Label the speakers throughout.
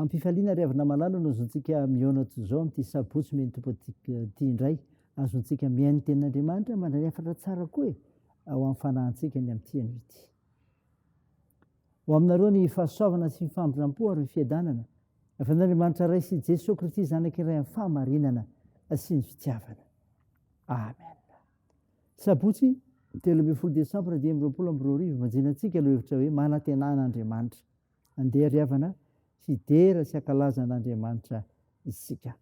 Speaker 1: Am-pifaliana ry havana malala no azotsika mihaona toy izao amin'ity sabotsy miha ny Tompo ity indray Azontsika mihaino ny tenin'Andriamanitra manalefatra tsara koa e, ao amin'ny fanahintsika ny amin'ity anio ity. Ho aminareo ny fahasoavana sy ny famindrampo ary ny fiadanana avy amin'Andriamanitra Ray sy Jesoa Kristy Zanaka iray amin'ny fahamarinana sy ny fitiavana. Amen. Sabotsy telo ambin'ny folo desambra dimy amby roapolo amby roa arivo manjinantsika lohevitra hoe manantenana Andriamanitra. Andeha ry havana hidera sy hankalaza an'Andriamanitra isika.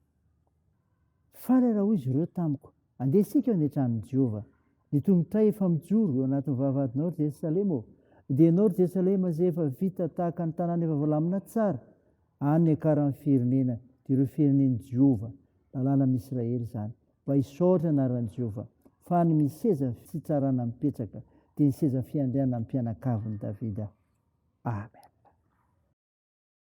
Speaker 1: Farara, hoy izy ireo tamiko, andeha isika any an-tranon'i Jehovah. Ny tongotray efa mijoro eo anatin'ny vavahadinao, ry Jerosalema ô! Dia ianao, ry Jerosalema, izay efa vita tahaka ny tanàna efa voalamina tsara, any niakaran'ny firenena, dia ireo firenen'i Jehovah, lalàna amin'i Israely izany, mba hisaotra ny anaran'i Jehovah, fa any misy seza fitsarana mipetraka, dia ny seza fiandrianan'ny mpianakavin'i Davida. Amen.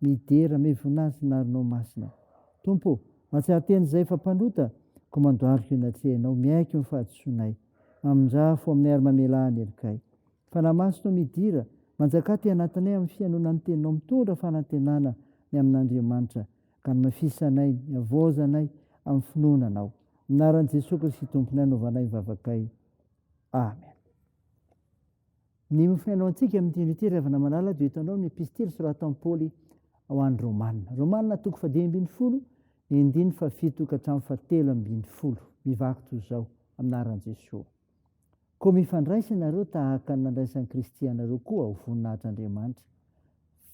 Speaker 1: Midera me voninahitsin'ny arinao masina. Tompo ô, mahatsiaro tena izahay fa mpanota, koa mandohalika eny an-trehinao, miaiky ny fahadisoanay. Mamindrafo aminay ary mamelà ny helokay. Fanahy Masinao midira, manjakà aty anatinay amin'ny fihainoana ny Teninao, mitondra fanantenana ny amin'Andriamanitra, ka hamafisanay ny havaozanay amin'ny finoana Anao. Amin'ny anaran'i Jesoa Kristy Tomponay no anaovanay ny vavakay. Amen. Ny mofo nianaontsika amin'ny teny ity ry havana malala dia hitanao ny epistily soratan'i Paoly ho an'ny Romana. Romana toko fahadimy ambin'ny folo, endiny fahafito ka hatramin'ny fahatelo ambin'ny folo. Mivaky toy izao, amin'aran'i Jesoa. Koa mifandraisa ianareo tahaka ny nandraisan'i Kristy anareo koa ho voninahitr'Andriamanitra.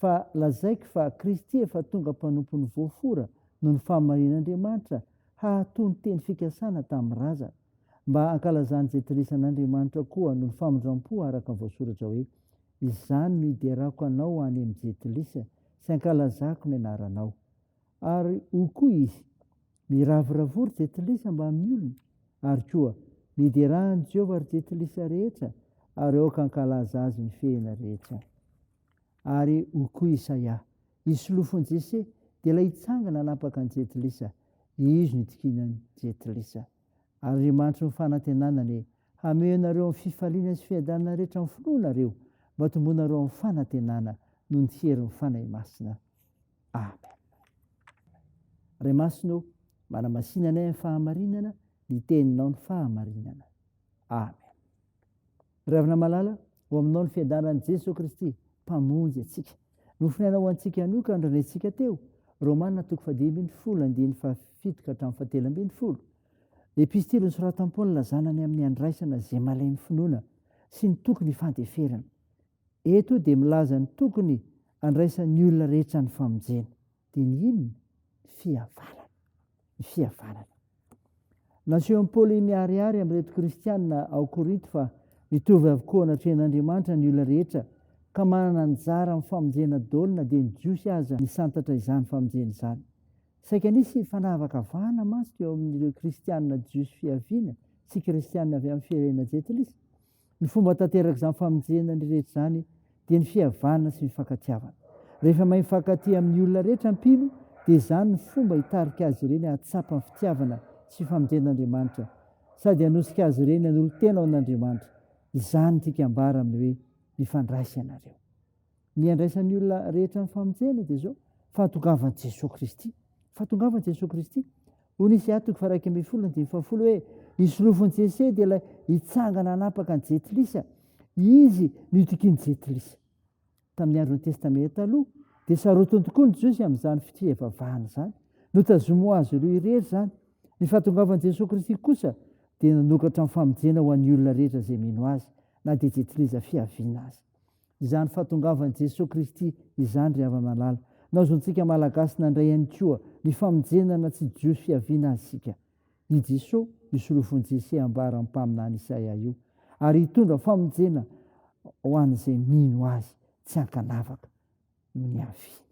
Speaker 1: Fa lazaiko fa Kristy efa tonga mpanompon'ny voafora noho ny fahamarian'Andriamanitra hahatoa ny teny fikasana tamin'ny razana, mba hankalazany izay dirisan'Andriamanitra koa noho ny famindrampo araka ny voasoratra hoe, Izany no hiderako anao any amin'ny jentilisa sy hankalazako ny anaranao. Ary hoy koa izy, Miravoravoa ry jentilisa mba amin'ny olona, ary koa, Midera an'i Jehovah ry jentilisa rehetra, ary aoka hankalaza azy ny fehiny rehetra. ary hoy koa Isaia, Isolofon' Jese, dia ilay hitsangana hanapaka an'i Jetilisa, izy no hitokian'i Jetilisa. Ary Andriamanitry ny fanantenana anie hameo anareo amin'ny fifaliana sy fiadanana rehetra amin'ny finoanareo, mba hotombonareo amin'ny fanantenana noho ny herin'ny Fanahy Masina. Amen. Ray Masina ô, manamasina anay amin'ny fahamarinana, ny teninao ny fahamarinana. Amen. Ry havana malala, ho aminao ny fiadaran'i Jeso Kristy, Mpamonjy antsika. Nofonaina ho antsika ihany koa ny rentsika teo, Romana toko fahadimy ambin'ny folo, andininy fahafito ka hatramin'ny fahatelo ambin'ny folo. Epistily nosoratan'i Paola zanany amin'ny handraisana izay malain'ny finoana sy ny tokony hifandeferana. Eto dia milaza ny tokony andraisan'ny olona rehetra ny famonjena. Dia ny inona? Ny fihavanana. Ny fihavanana. Nasehon'i Paoly miharihary amin'ireto Kristianina ao Korinto fa mitovy avokoa anatrehan'Andriamanitra ny olona rehetra ka manana anjara amin'ny famonjena daholo na dia ny Jiosy aza nisantatra izany famonjena izany. Saika nisy fanavakavahana mantsy teo amin'ireo Kristianina Jiosy fiaviana sy Kristianina avy amin'ny firenena Jentilisa. Ny fomba atanterak'izany famonjena ny rehetra izany dia ny fihavanana sy ny fankatiavana. Rehefa mahay mifankatia amin'ny olona rehetra mpino dia izany ny fomba hitarika azy ireny hahatsapa ny fitiavana sy famonjen'Andriamanitra sady hanosika azy ireny hanolo-tena ho an'Andriamanitra. Izany no tiaka ambara amin'ny hoe mifandray sy ianareo. Ny andraisan'ny olona rehetra ny famonjena dia izao, fahatongavan'i Jesoa Kristy. Fahatongavan'i Jesoa Kristy. Hoy ny Isia toko faharaika ambin'ny folo andininy fahafolo hoe ny solofon'i Jesoa dia ilay hitsangana hanapaka ny jetilisa. Izy no itokian'ny jetilisa. Tamin'ny andron'ny Testamenta Taloha dia sarotiny tokoa ny Jiosy amin'izany fivavahana izany. Notazomy ho azy ireo irery izany. Ny fahatongavan'i Jesoa Kristy kosa dia nanokatra ny famonjena ho an'ny olona rehetra izay mino azy, na dia jetilisa fiaviana aza. izany fahatongavan'i Jesoa Kristy izany ry hava-malala. Naozontsika Malagasy nandray ihany koa ny famonjenana tsy jiosy fiaviana azy isika. I Jesoa, io solofon'i Jese ambaran'ny mpaminany Isaia io, ary hitondra famonjena ho an'izay mino Azy tsy ankanavaka noho ny haviany.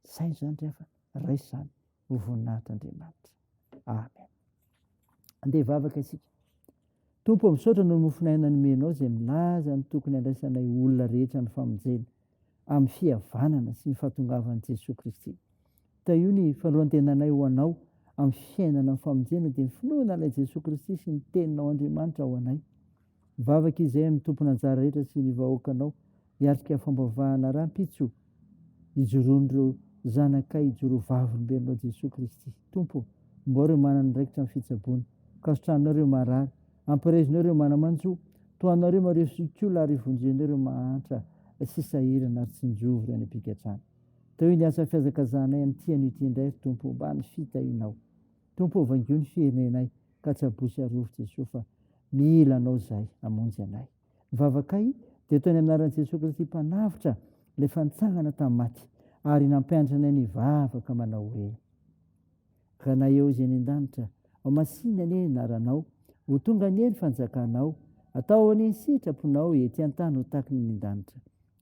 Speaker 1: Izay izany ry havana, raiso izany. ho voninahitr'Andriamanitra. Amen. Andeha vavaka isika. Tompo, misaotra noho ny mofon'aina nomenao izay milaza ny tokony handraisanay olona rehetra ny famonjena amin'ny fihavanana sy ny fahatongavan'i Jesoa Kristy. Tahio ny fanolantenanay ho anao amin'ny fiainana amin'ny famonjena dia ny finoana an'ilay Jesoa Kristy sy ny teninao Andriamanitra ho anay. Mivavaka izahay amin'ny tompon'anjara rehetra sy ny vahoakanao hiatrika fambavahana rahampitso ijoroan'ireo zanakay ijoroaVavolombelonao Jesoa Kristy. Tompo, ombao ireo manana andraikitra amin'ny fitsaboana. Kasotrahanao ireo marary. Ampirezinao ireo manamanjo. Tohanao ireo mario sy kiola ary vonjenao ireo mahantra sy sahirana ary tsinjovy ireo any am-pigadrana. Taoy ny asa fihazakazahanay amin'ny tianao ity indray, ry Tompo, mba ny fitahianao. Tompo ô vangio ny firenenay ka tsaboy sy arovy Jesoa fa mila anao zahay hamonjy anay. Ny vavakay dia toy ny amin'ny anaran'i Jesoa Kristy mpanavotra ilay efa nitsangana tamin'ny maty ary nampianatra anay ny vavaka manao hoe Ranay eo izay ny an-danitra, ao masina anie ny anaranao, ho tonga anie ny fanjakanao, atao anie ny sitraponao ety an-tany ho taky ny an-danitra.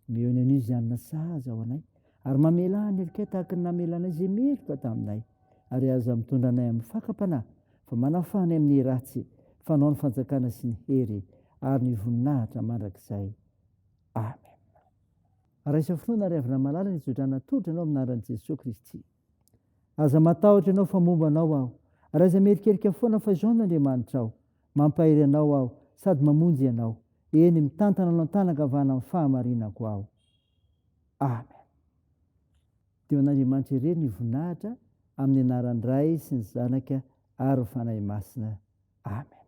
Speaker 1: Mihaino an'io izay hanana sahaza ho anay, ary mamela ny helikay tahaka ny namelanay izay meloka taminay, ary aza mitondra anay amin'ny fakam-panahy, fa manafaha anay amin'ny ratsy, fanao ny fanjakana sy ny hery, ary ny voninahitra mandrakizay. Amen. Raisa finoana ary avy namalala ny hizotrana tolotra anao amin'ny anaran'i Jesoa Kristy. Aza matahotra ianao fa momba anao aho. Raiza miherikerika foana fa izao ny Andriamanitrao. Mampahery anao aho sady mamonjy ianao. Eny, mitantana anao an-tanan-kavana amin'ny fahamarinako aho. Amen. Dia ho an'Andriamanitra irery ny voninahitra amin'ny anaran'ny Ray sy ny Zanaka ary ny Fanahy Masina. Amen.